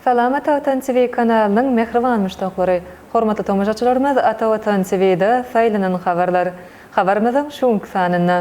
Salam Ata Watan TV kanalynyň mähriban muşdaklary! Hormatly tomaşaçylarymyz Ata Watan TV-de saýlanan habarlar. Habarymyzyň şu günki sanynda.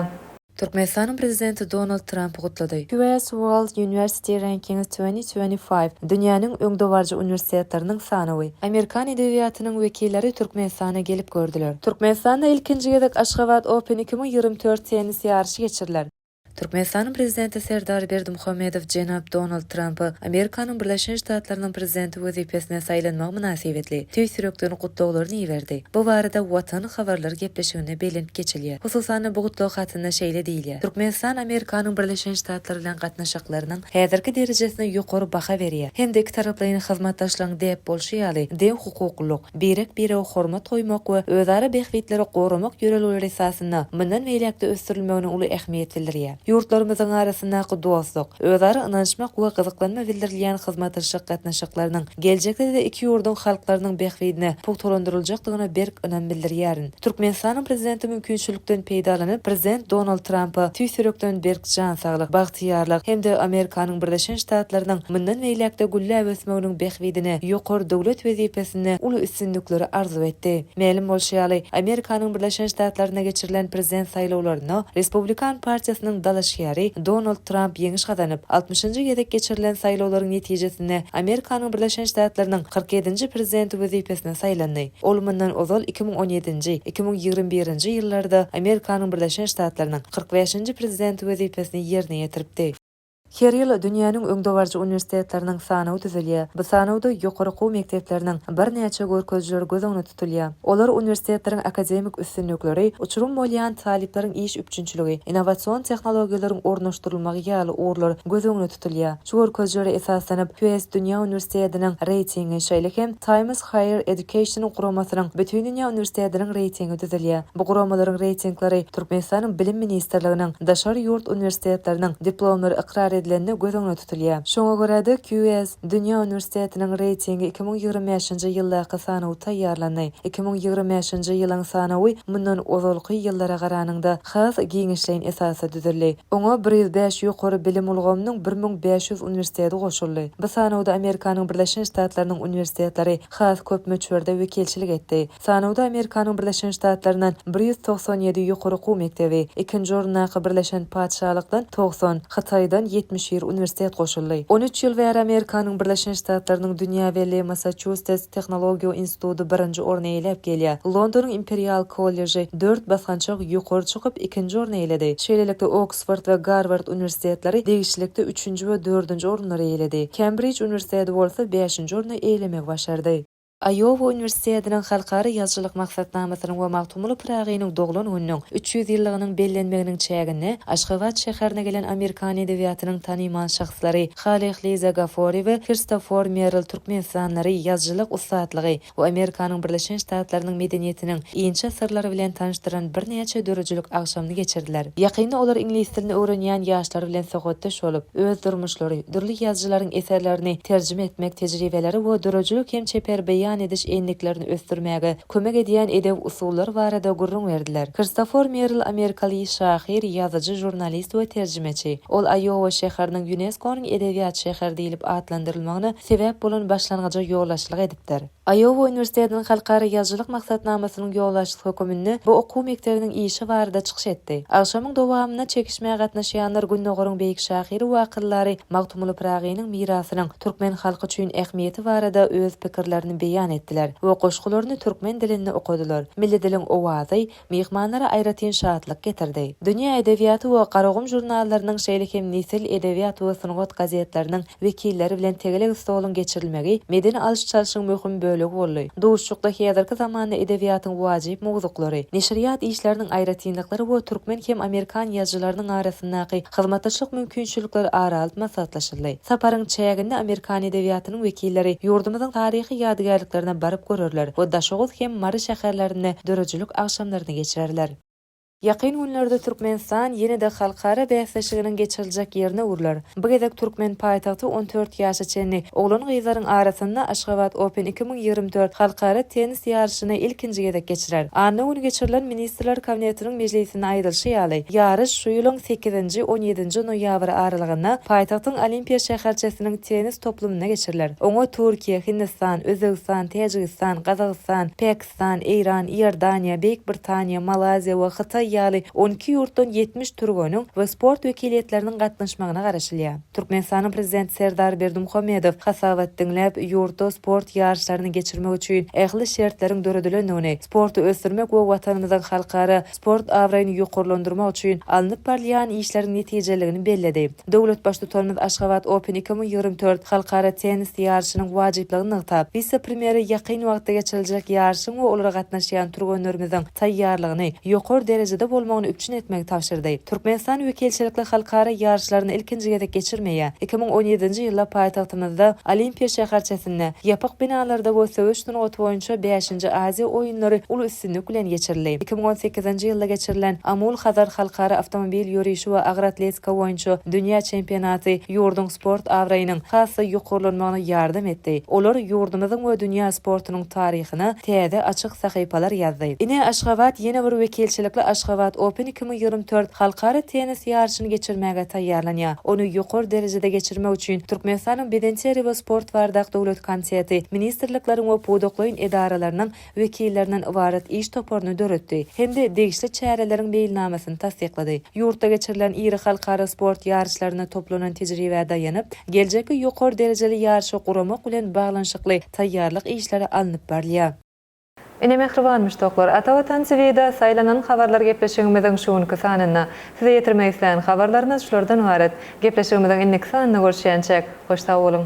Türkmenistanyň Prezidenti Donald Trampy gutlady. QS World University Rankings twenty twenty five, Dünýäniň öňdebaryjy uniwersitetleriniň sanawy. Amerikan edebiýatynyň wekilleri Türkmenistana gelip gördüler. Türkmenistanda ilkinji gezek Aşgabat Open iki müň ýigrimi dört tennis ýaryşy geçiriler. Türkmenistanyň Prezidenti Serdar Berdimuhamedow jenap Donald Trampy Amerikanyň Birleşen Ştatlarynyň Prezidenti wezipesine saýlanmagy mynasybetli tüýs ýürekden gutlaglaryny iberdi. Bu barada Watan habarlar gepleşiginde belent geçilýär. Hususan-da, bu gutlag hatynda şeýle diýilýär, Türkmenistan Amerikanyň Birleşen Ştatlary bilen gatnaşyklarynyň häzirki derejesine ýokary baha berýär hem-de ikitaraplaýyn hyzmatdaşlygyň däp bolşy ýaly, deňhukuklylyk, birek-birege hormat goýmak we özara bähbitleri goramak ýörelgeleri esasynda mundan beýläk-de ösdürilmegine uly ähmiýet bildirýär. Ýurtlarymyzyň arasyndaky dostluk, özara ynanyşmak we gyzyklanma bildirilýän hyzmataşlyk gatnaşyklarynyň geljekde-de iki ýurduň halklarynyň bähbidine pugtalandyryljakdygyna berk ynam bildirýärin. Türkmenistanyň Prezidenti mümkinçilikden peýdalanyp, Prezident Donald Trampa tüýs ýürekden berk jan saglyk, bagtyýarlyk hem-de Amerikanyň Birleşen Ştatlarynyň mundan beýläk-de gülläp ösmeginiň bähbidine ýokary döwlet wezipesinde uly üstünlikleri arzuw etdi. Mälim bolşy ýaly, Amerikanyň Birleşen Ştatlarynda geçirilen Prezident saýlawlarynda Respublikan partiýasynyň dalaşgäri Donald Tramp ýeňiş gazanyp, altmyşynjy gezek geçirilen saýlawlaryň netijesinde Amerikanyň Birleşen Ştatlarynyň kyrk ýedinji Prezidenti wezipesine saýlandy. Ol mundan ozal iki müň on ýedinji, iki müň ýigrimi birinji ýyllarda Amerikanyň Birleşen Ştatlarynyň kyrk bäşinji prezidenti wezipesini ýerine ýetiripdi. Her ýyl dünýäniň öňdebaryjy uniwersitetleriniň sanawy düzülýär. Bu sanawda ýokary okuw mekdepleriniň birnäçe görkezijileri göz öňünde tutulýar. Olar uniwersitetleriň akademik üstünlikleri, uçurym bolýan talyplaryň iş üpjünçiligi, innowasion tehnologiýalaryň ornaşdyrylmagy ýaly ugurlar göz öňünde tutulýar. Şu görkezijilere esaslanyp, QS dünýä uniwersitediniň reýtingi, şeýle hem Times Higher Education guramasynyň Bütindünýä uniwersitetiniň reýtingi düzülýär. Bu guramalaryň reýtinglary Türkmenistanyň Bilim ministrliginiň daşary ýurt uniwersitetleriniň diplomlary ykrar edilende göz öňüne tutulýar. Şoňa görä-de, QS dünýä uniwersitetiniň reýtingi iki müň ýigrimi bäşinji ýyldaky sanawy taýýarlandy. Iki müň ýigrimi bäşinji ýylyň sanawy mundan ozalky ýyllara garanyňda has giňişleýin esasda düzüldi. Oňa bir ýüz bäş ýokary bilim ulgamynyň bir müň bäş ýüz uniwersiteti goşuldy. Bu sanawda Amerikanyň Birleşen Ştatlarynyň uniwersitetleri has köp möçberde wekilçilik etdi. Sanawda Amerikanyň Birleşen Ştatlaryndan bir ýüz togsan ýedi ýokary okuw mekdebi, ikinji orundaky Birleşen Patyşalykdan togsan, Hytaýdan ýetmiş bir uniwersitet goşuldy. On üç ýyl bäri Amerikanyň Birleşen Ştatlarynyň dünýä belli Massaçustets tehnologiýa instituty birinji orny eýläp gelýär. Londonyň Imperial kolleji, dört basgançak ýokary çykyp, ikinji orny eýeledi. Şeýlelikde, Oksford we Garward uniwersitetleri degişlilikde üçünji we dördünji orunlary eýeledi. Kembrij uniwersiteti bolsa bäşinji orny eýelemegi başardy. Aýowa uniwersitetiniň Halkara ýazyjylyk maksatnamasynyň we Magtymguly Pyragynyň doglan gününiň üç ýüz ýyllygynyň bellenmeginiň çäginde Aşgabat şäherine gelen amerikan edebiýatynyň tanymal şahslary Haleh Liza Gafori we Kristofor Merrill türkmenistanlary ýazyjylyk ussatlygy Bu Amerikanyň Birleşen Ştatlarynyň medeniýetiniň inçe syrlary bilen tanyşdyran birnäçe döredijilik agşamyny geçirdiler. Ýakynda olar iňlis dilini öwrenýän ýaşlar bilen söhbetdeş bolup, öz durmuşlary, dürli ýazyjylaryň eserlerini terjime etmek tejribeleri we döredijilik hem çeper beýan ediş endiklerini ösdürmäge kömek edýän edebi usullar barada gürrüň berdiler. Kristofor Merrill amerikaly şahyr, ýazyjy, žurnalist we terjimeçi. Ol Aýowa şäheriniň Ýuneskonyň edebiýat şäheri diýlip atlandyrylmagyna sebäp bolan başlangyja ýolbaşçylyk edipdir. beripdir. Aýowa uniwersitetiniň halkara ýazyjylyk maksatnamasynyň ýolbaşçysy höküminde bu okuw mekdebiniň işi barada çykyş etdi. Agşamyň dowamynda çekişmä gatnaşýanlar Gündogaryň beýik şahyry we akyldary Magtymguly Pyragynyň mirasynyň türkmen halky üçin ähmiýeti barada öz pikirlerini beýan etdiler we goşgularyny türkmen dilinde okadylar. Milli diliň owazy, myhmanlara aýratyn şatlyk getirdi. Dünýä edebiýaty we Garagum žurnallarynyň, şeýle hem Nesil, Edebiýat we Sungat gazetleriniň wekilleri bilen tegelek stoluň geçirilmegi medeni alyş-çalşyň möhüm bölegi boldy. Duşuşykda häzirki zamanda edebiýatyň wajyp mowzuklary, neşirýat işleriniň aýratynlyklary we türkmen hem amerikan ýazyjylarynyň arasyndaky hyzmatdaşlyk mümkinçilikleri ara alyp maslahatlaşyldy. Saparyň çäginde amerikan edebiýatynyň Şäherçesiniň wekilleri ýurdumyzyň taryhy ýadygärliklerine baryp görerler we Daşoguz hem Mary şäherlerinde döredijilik agşamlaryny geçirerler. Ýakyn günlerde Türkmenistan ýene-de halkara bäsleşiginiň geçiriljek ýerine öwrüler. Bu gezek türkmen paýtagty on dört ýaşa çenli oglan-gyzlaryň arasynda Aşgabat Open iki müň ýigrimi dört halkara tennis Ýunesko ýaryşyny ilkinji gezek geçirer. Anna güni geçirilen Ministrler Kabinetiniň mejlisinde aýdylyşy ýaly, ýaryş şu ýylyň sekizinji, on ýedinji noýabr aralygynda paýtagtyň Olimpiýa şäherçesiniň tennis toplumynda geçiriler. Oňa Türkiýe, Hindistan, Özbegistan, Täjigistan, Gazagystan, Pakistan, Eýran, Iordaniýa, Beýik Britaniýa, Malaýziýa we Hytaý ýaly on iki ýurtdan ýetmiş türgeniň we sport wekiliýetleriniň gatnaşmagyna garaşylýar. Türkmenistanyň Prezidenti Serdar Berdimuhamedow hasabat diňläp, ýurtda sport ýaryşlaryny geçirmek üçin ähli şertleriň döredilendigini, sporty ösdürmek we Watanymyzyň halkara sport abraýyny ýokarlandyrmak üçin alnyp barylýan işleriň netijeliligini belledi. Döwlet Baştutanymyz Aşgabat Open iki müň ýigrimi dört halkara tennis ýaryşynyň wajyplygyny nygtap, wise-premýere ýakyn wagtda geçiriljek ýaryşyň we olara gatnaşýan türgenlerimiziň taýýarlygyny ýokary derejede bolmagyny üpjün etmegi tabşyrdy. Türkmenistan wekilçilikli halkara ýaryşlaryny ilkinji gezek geçirmeýär. Iki müň on ýedinji ýylda paýtagtymyzda, Olimpiýa şäherçesinde, ýapyk binalarda we söweş sungaty boýunça bäşinji Aziýa oýunlary uly üstünlik bilen geçirildi. Iki müň on sekizinji ýylda geçirilen Amul-Hazar halkara awtomobil ýörişi we agyr atletika boýunça dünýä çempionaty ýurduň sport abraýynyň has-da ýokarlanmagyna ýardam etdi. Olar ýurdumyzyň we dünýä sportunyň taryhy, ýazyjysyna täze açyk sahypalar ýazdy. Ine, Aşgabat ýene bir wekilçilikli Aşgabat Open iki müň ýigrimi tört halkara tennis ýaryşyny geçirmäge taýýarlanýar. Ony ýokary derejede geçirmek üçin Türkmenistanyň Bedenterbiýe we sport bardak döwlet komiteti ministrlikleriň we pudaklaýyn edaralarynyň wekillerinden ybarat iş toparyny döretdi hem-de degişli çäreleriň meýilnamasyny tassyklady. Ýurtda geçirilen iri halkara sport ýaryşlarynda toplanan tejribä daýanyp, geljekki ýokary derejeli ýaryşy guramak bilen baglanyşykly taýýarlyk işleri alnyp barylýar. Ine mähriban muşdaklar, Ata Watan TV-de saýlanan habarlar gepleşigimiziň şu günki sanynda. Size ýetirmek isleýän habarlarymyz şulardan ybarat. Gepleşigimiziň indiki sanynda görüşýänçäk, hoş sag boluň!